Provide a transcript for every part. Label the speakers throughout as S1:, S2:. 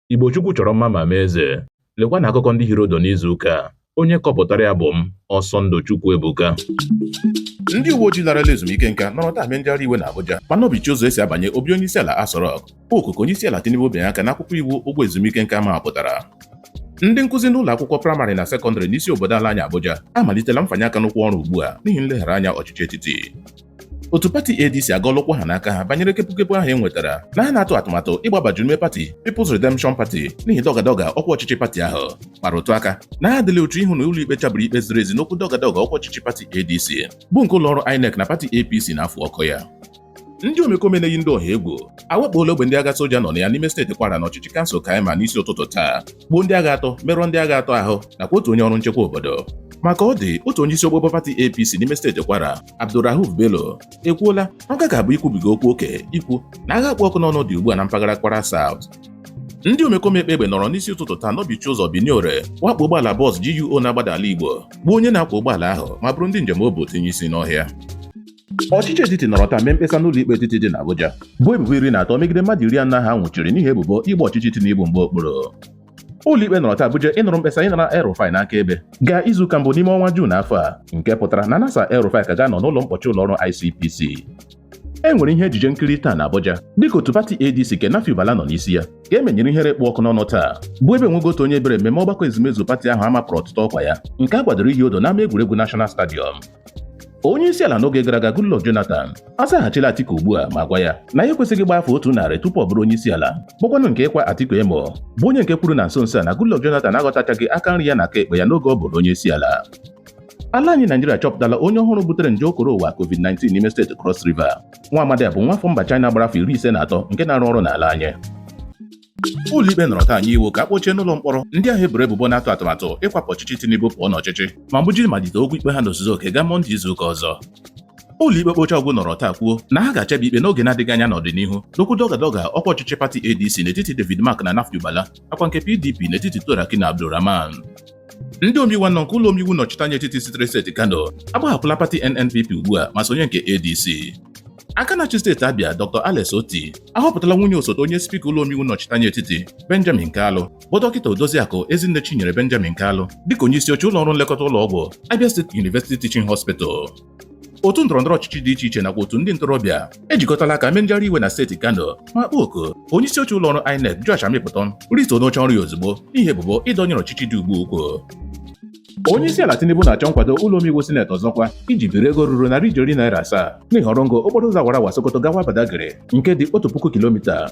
S1: Igbo Chukwu chọrọ mma ma mee eze. Lekwanụ akụkọ ndị hiri odo n'izu ụka a. Onye kọpụtara ya bụ m, Ọsọndụ Chukwu Ebuka. Ndị
S2: uwe ojii larala ezumike nka nọrọ taa mee njegharị iwe na Abuja ma nọbichie ụzọ esi abanye obi onye isi ala Aso Rock kpọọ oku ka onye isi ala Tinubu bịanye aka n'akwụkwọ iwu ụgwọ ezumike nka mapụtara ndị nkụzi n'ụlọ akwụkwọ praịmarị na sekọndịrị n'isi obodo ala anyị Abuja amalitela mfanye aka n'ụkwụ ọrụ ugbu a n'ihi nleghara anya ọchịchị etiti otu pati ADC agọla ụkwụ ha na aka ha banyere kepukepu ahụ e nwetara na ha na-atụ atụmatụ ịgbabaju n'ime pati People's Redemption Party n'ihi dọgadọga ọkwa ọchịchị pati ahụ kpara ụtụ aka na ha adịla uchu ịhụ na ụlọ ikpe chabiri ikpe ziri ezi n'okwu dọgadọga ọkwa ọchịchị pati ADC bụ nke ụlọọrụ INEC na pati APC na-afụ ọkụ ya ndị omekome na-eyi ndị ọha egwu awakpoola ogbe ndị agha soja nọ na ya n'ime steeti kwara na ọchịchị kansụl Kaiama n'isi ụtụtụ taa gbuo ndị agha atọ merụọ ndị agha atọ ahụ nakwa otu onye ọrụ nchekwa obodo ma ka ọ dị otu onye isi ogbogbo pati APC n'ime steeti Kwara Abdulrauf Bello ekwuola na ọ gaghị abụ ikwubiga okwu oke ikwu na agha kpụ ọkụ n'ọnụ dị ugbu a na mpaghara Kwara South ndị omekome kpa egbe nọrọ n'isi ụtụtụ taa nọbichie ụzọ Benin-Ore wakpo ụgbọala bọs GUO na-agbada ala Igbo gbuo onye na-akwọ ụgbọala ahụ ma buru ndị njem o bu tinye isi n'ọhịa ọchịchị etiti nọrọ taa mee mkpesa n'ụlọ ikpe etiti dị n'Abuja bụ ebubo iri na atọ megide mmadụ iri anọ ha nwụchiri n'ihi ebubo ịgba ọchịchị Tinubu mgba okpuru ụlọikpe nọrọ taa buje ịnụrụ mkpesa ịnara El-Rufai n'aka ebe gaa izuụka mbụ n'ime ọnwa Juun afọ a nke pụtara na Nasir El-Rufai ka ga-anọ n'ụlọ mkpọchi ụlọọrụ ICPC e nwere ihe ejije nkiri taa na Abuja dịka otu pati ADC nke Nafiu Bala nọ n'isi ya ka e menyere ihere kpụ ọkụ n'ọnụ taa bụ ebe e nweghị otu onye bịara mmemme ọgbakọ ezumezu pati ahụ a mapụrụ ọtụtụ ọkwa ya nke a kwadoro ihi odo n'ama egwuregwu National Stadium onye isi ala n'oge gara aga Goodluck Jonathan azaghachila Atiku ugbu a ma gwa ya na ya ekwesịghị ịgba afọ otu narị tupu ọ bụrụ onye isi ala bụkwanụ nke ịkwa Atiku emo bụ onye nke kwuru na nso nso a na Goodluck Jonathan aghọtachaghị aka nri ya na aka ekpe ya n'oge ọ bụrụ onye isi ala ala anyị Naijiria achọpụtala onye ọhụrụ butere nje okoro ụwa COVID-19 n'ime steeti Cross River nwa amadi a bụ nwafọ mba China gbara afọ iri ise na atọ nke na-arụ ọrụ n'ala anyị ụlọikpe nọrọ taa nye iwu ka a kpọchie n'ụlọ mkpọrọ ndị ahụ e boro ebubo na-atụ atụmatụ ịkwapụ ọchịchị Tinubu pụọ n'ọchịchị ma buje ịmalite okwu ikpe ha n'ozuzu oke gaa Mọnde izu ụka ọzọ ụlọikpe ekpechaa ọ gwụ nọrọ taa kwuo na ha ga-achabi ikpe n'oge na-adịghị anya n'ọdịnihu n'okwu dọgadọga ọkwa ọchịchị pati ADC n'etiti David Mark na Nafiu Bala nakwa nke PDP n'etiti Turaki na Abdulrahman Ndị omeiwu anọ nke ụlọ omeiwu nọchiteanya etiti sitere steeti Kano agbahapụla pati NNPP ugbu a ma sonye nke ADC. Aka na-achị steeti Abia Dr. Alex Otti ahọpụtala nwunye osote onye spika ụlọ omeiwu nọchiteanya etiti Benjamin Kalu bụ dọkịta Odoziakụ Ezinne Chinyere Benjamin Kalu dịka onye isi oche ụlọ ọrụ nlekọta ụlọ ọgwụ Abia State University Teaching Hospital. otu ndọrọndọrọ ọchịchị dị iche iche nakwa otu ndị ntorobịa ejikọtala aka mee njegharị iwe na steeti Kano ma kpọọ oku onye isi oche ụlọ ọrụ INEC Joash Amupitan rituo n'oche ọrụ ya ozugbo n'ihi ebubo ịdọnyere ọchịchị dị ugbu a ukwu onye isi ala Tinubu na-achọ nkwado ụlọ omeiwu sineti ọzọkwa iji biri ego ruru narị ijeri naira asaa n'ihi ọrụ ngo okporo ụzọ awara awa Sokoto gawa Badagry nke dị otu puku kilomita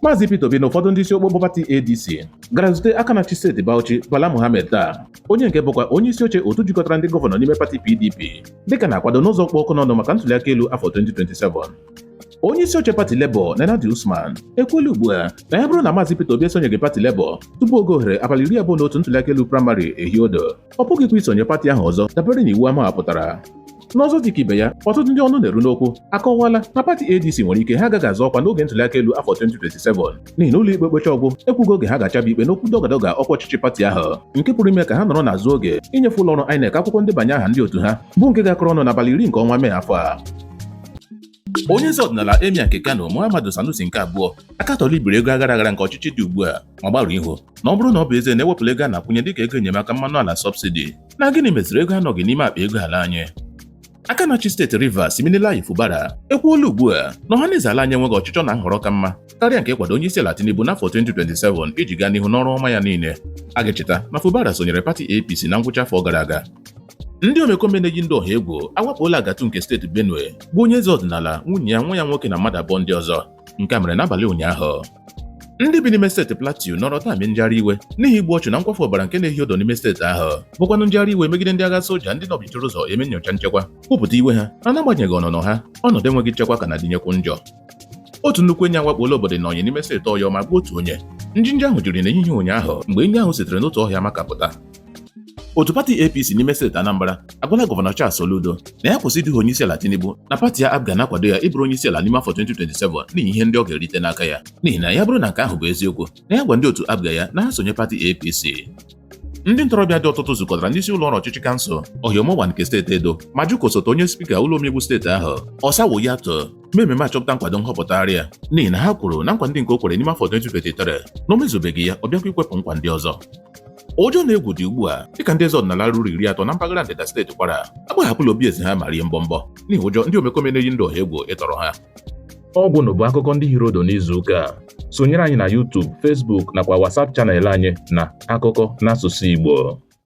S2: Maazị Peter Obi na ụfọdụ ndị isi okpokpo pati ADC gara zute aka na-achị steeti Bauchi Bala Mohammed taa onye nke bụkwa onye isi oche otu jikọtara ndị gọvanọ n'ime pati PDP dịka na-akwado n'ụzọ kpụ ọkụ n'ọnụ maka ntuliaka elu afọ 2027 onye isi oche pati Labour Nenadi Usman ekwuola ugbu a na ya bụrụ na Maazị Peter Obi esonyeghị pati Labour tupu oge ohere abalị iri abụọ na otu ntuliaka elu praịmarị ehiodo ọ pụghịkwa isonye pati ahụ ọzọ dabere n'iwu a mawapụtara n'ọzọ dịka ibe ya ọtụtụ ndị ọnụ na-eru n'okwu akọwala na pati ADC nwere ike ha agaghị azọ ọkwa n'oge ntụliaka elu afọ 2027 n'ihi na ụlọ ikpe okpecha ọgwụ ekwughị oge ha ga-achaba ikpe n'okwu dọgadọga ọkwa ọchịchị pati ahụ nke pụrụ ime ka ha nọrọ n'azụ oge inyefe ụlọ ọrụ INEC akwụkwọ ndebanye aha ndị otu ha bụ nke ga-akọrọ ọnụ n'abalị iri nke ọnwa Mee afọ a onye eze ọdịnala Emir nke Kano Muhammadu Sanusi nke abụọ akatọla ibiri ego aghara aghara nke ọchịchị dị ugbu a ma gbarụ ihu na ọ bụrụ na ọ bụ ezie na e wepụla ego a na-akwụnye dịka ego enyemaka mmanụ ala sọbsidi na gịnị meziri ego anọghị n'ime akpa ego ala anyị aka na-achị steeti Rivers Siminalayi Fubara ekwuola ugbu a na ọhaneze ala anyị enweghị ọchịchọ na nhọrọ ka mma karịa nke ịkwado onye isi ala Tinubu n'afọ 2027 iji gaa n'ihu n'ọrụ ọma ya niile a ga-echeta na Fubara sonyere pati APC na ngwụcha afọ gara aga ndị omekome na-eyi ndị ọha egwu awakpola Agatu nke steeti Benue gbuo onye eze ọdịnala nwunye ya nwa ya nwoke na mmadụ abụọ ndị ọzọ nke a mere n'abalị ụnyaahụ ndị bi n'ime steeti Plateau nọrọ taa mee njegharị iwe n'ihi igbu ọchụ na nkwafu ọbara nke na-ehi odo n'ime steeti ahụ bụkwanụ njegharị iwe megide ndị agha soja ndị nọbichiri ụzọ eme nnyocha nchekwa kwupụta iwe ha na n'agbanyeghị ọnụnọ ha ọnọdụ enweghị nchekwa ka na-adịnyekwu njọ otu nnukwu enyi awakpola obodo Innayin n'ime steeti Ọyọ ma gbuo otu onye njinji ahụ jiri n'ehihie ụnyaahụ mgbe enyi ahụ sitere n'otu ọhịa makapụta otu pati APC n'ime steeti Anambra agwala gọvanọ Charles Soludo na ya kwụsị iduhi onye isi ala Tinubu na pati ya APGA na-akwado ya ịbụrụ onye isi ala n'ime afọ 2027 n'ihi ihe ndị ọ ga-erite n'aka ya n'ihi na ya bụrụ na nke ahụ bụ eziokwu na ya gwa ndị otu APGA ya na ha sonye pati APC ndị ntorobịa dị ọtụtụ zukọtara n'isi ụlọ ọrụ ọchịchị kansụl Orhionmwon nke steeti Edo ma jụ ka osote onye spika ụlọ omeiwu steeti ahụ Osamwonyi Atu mee ememe achọpụta nkwado nhọpụtagharị ya n'ihi na ha kwuru na nkwa ndị nke o kwere n'ime afọ 2023 na o mezubeghị ya ọ bịakwa ikwepụ nkwa ndị ọzọ ụjọ na egwu dị ugbu a dịka ndị eze ọdịnala ruru iri atọ na mpaghara ndịda steeti Kwara agbahapụla obi eze ha ma rie mbọmbọ n'ihi ụjọ ndị omekome na-eyi ndụ ọha egwu ịtọrọ ha ọgwụ na
S1: bụ akụkọ ndị hiri odo n'izu ụka a sonyere anyị na YouTube Facebook nakwa WhatsApp channel anyị na akụkọ n'asụsụ Igbo